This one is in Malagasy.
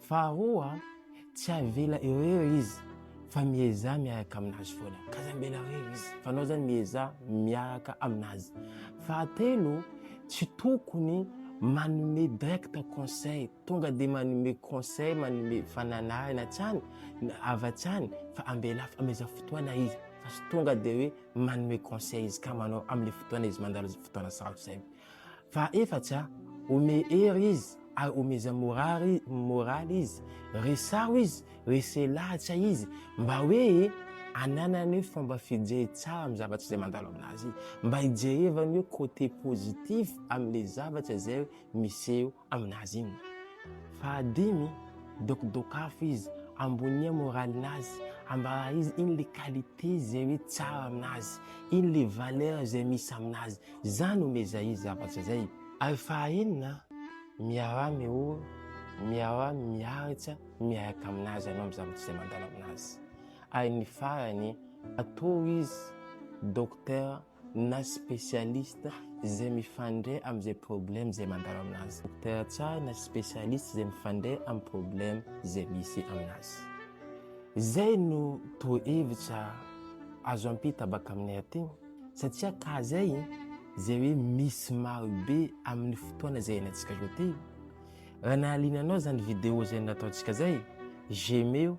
Faharoa, tsy avela eo eo izy fa miezaha miaraka aminazy foana, ka aza ambela eo eo izy fa anao zany miezaha miaraka aminazy. Fahatelo, tsy tokony manome direct conseil, tonga dia manome conseil, manome fananarana hatrany na avy hatrany fa ambela amezao fotoana izy fa tsy tonga dia hoe manome conseil izy ka manao amle fotoana izy mandalo fotoana sarotra zay. Fahaefatra, Omey hery izy ary omeza moraly moraly izy. Resaho izy, resehy lahatra izy mba hoe ananany fomba fijery tsara amin'ny zavatra izay mandalo aminazy, mba hijerevany hoe côté positif amin'ilay zavatra izay miseho aminazy inona? Fahadimy, dokidokafo izy, ambonia moralinazy, ambara izy ino le qualité zay hoe tsara aminazy, ino le valeur zay misy aminazy, zany omeza izy zavatra zay. Ary fahaenina, miaraha mihory, miaraha miaritra miaraka aminazy anao am zavatra zay mandalo aminazy. Ary ny farany, atoro izy, docteur, na spécialiste izay mifandray amin'izay problème izay mandalo aminazy. Docteur tsara na spécialiste izay mifandray amin'ny problème izay misy aminazy. Izay no torohevitra azo ampita baka aminay aty satria ka izay izay hoe misy marobe amin'ny fotoana izay iainantsika zao ty. Raha nahaliana anao izany vidéo izay nataontsika izay, j'aime eo.